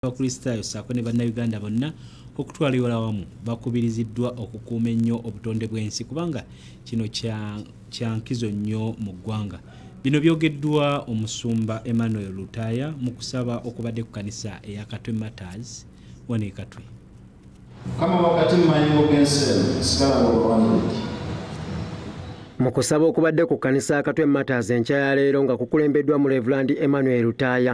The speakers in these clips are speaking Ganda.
abakristaayo ssaako ne bannayuganda bonna okutwala ewala wamu bakubiriziddwa okukuuma ennyo obutonde bw'ensi kubanga kino kya nkizo nnyo mu ggwanga bino byogeddwa omusumba emmanuel lutaaya mu kusaba okubadde ku kanisa eya katwe matters wano ekatwe kama wakati mu mayingo g'ensi eno sigala ng'obawaniriki mu kusaba okubadde ku kkanisa akatwe matas enkya ya leero nga kukulembeddwa mu revulandi emmanuel lutaaya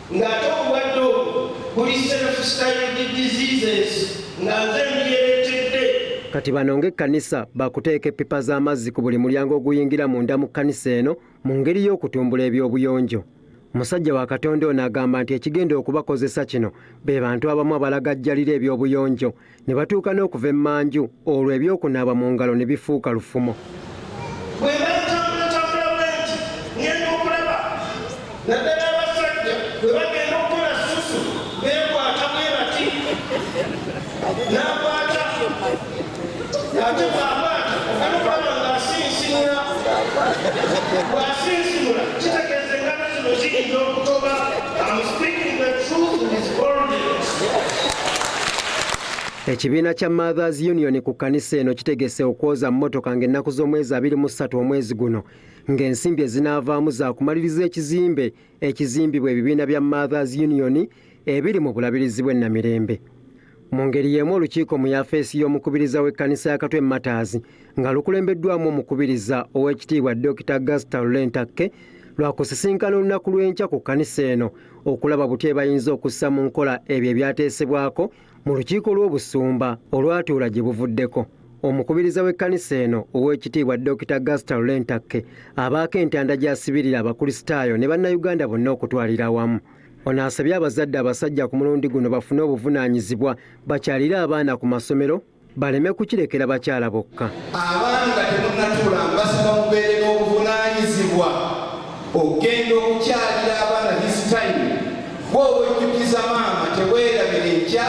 ng'ate obulwadde obwo buli self-styled diseases nga nze mbyeretedde. Kati bano ng'ekkanisa baakuteeka eppipa z'amazzi ku buli mulyango oguyingira munda mu kkanisa eno mu ngeri y'okutumbula eby'obuyonjo. Musajja wa Katonda ono agamba nti ekigenda okubakozesa kino be bantu abamu abalagajjalira eby'obuyonjo ne batuuka n'okuva emmanju olwo eby'okunaaba mu ngalo ne bifuuka lufumo Thank you. Ekibiina kya Mothers Union ku kkanisa eno kitegese okwoza mmotoka ng'ennaku z'omwezi abiri mu ssatu omwezi guno ng'ensimbi ezinaavaamu za kumaliriza ekizimbe ekizimbibwa ebibiina bya Mothers Union ebiri mu bulabirizi bw'e Namirembe. Mu ngeri y'emu olukiiko mu yafeesi y'omukubiriza w'ekkanisa ya Katwe Mataazi nga lukulembeddwamu omukubiriza ow'ekitiibwa Dokita Gasita Lulentakke lwakusisinkana olunaku lw'enkya ku kkanisa eno okulaba butya ebayinza okussa mu nkola ebyo ebyateesebwako mu lukiiko lw'obusumba olwatuula gye buvuddeko omukubiriza w'ekkanisa eno ow'ekitiibwa Dokita Gasita Lulentakke abaako entanda gy'asibirira abakulisitaayo ne bannayuganda bonna okutwalira awamu ono asabye abazadde abasajja ku mulundi guno bafune obuvunaanyizibwa bakyalire abaana ku masomero baleme kukirekera bakyala bokka. Abaami nga temunnatuula mbasaba mubeere n'obuvunaanyizibwa okugenda okukyalira abaana this time gwe obwejjukiza maama tebwerabira enkya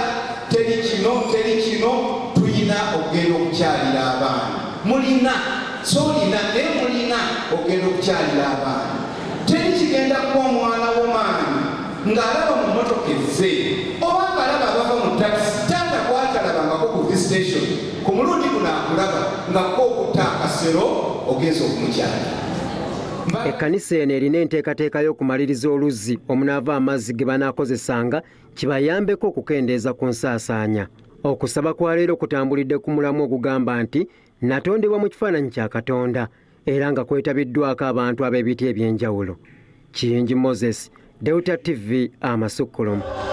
teri kino teri kino tulina okugenda okukyalira abaana mulina so olina naye mulina okugenda okukyalira abaana teri kigenda kuba omwana wo maama ng'alaba mu mmotoka ezze oba ng'alaba abava mu takisi taata gwatalabangako ku visitation ku mulundi guno akulaba nga kko okutta akasero ogenza okumukyala ekkanisa eno erina enteekateeka y'okumaliriza oluzzi omunaava amazzi ge banaakozesanga kibayambeko okukendeeza ku nsaasaanya okusaba kwa leero kutambulidde ku mulamu ogugamba nti natondebwa mu kifaananyi kya katonda era nga kwetabiddwako abantu ab'ebiti eby'enjawulo. Kiyingi Moses, Delta TV, Amasukkulumu.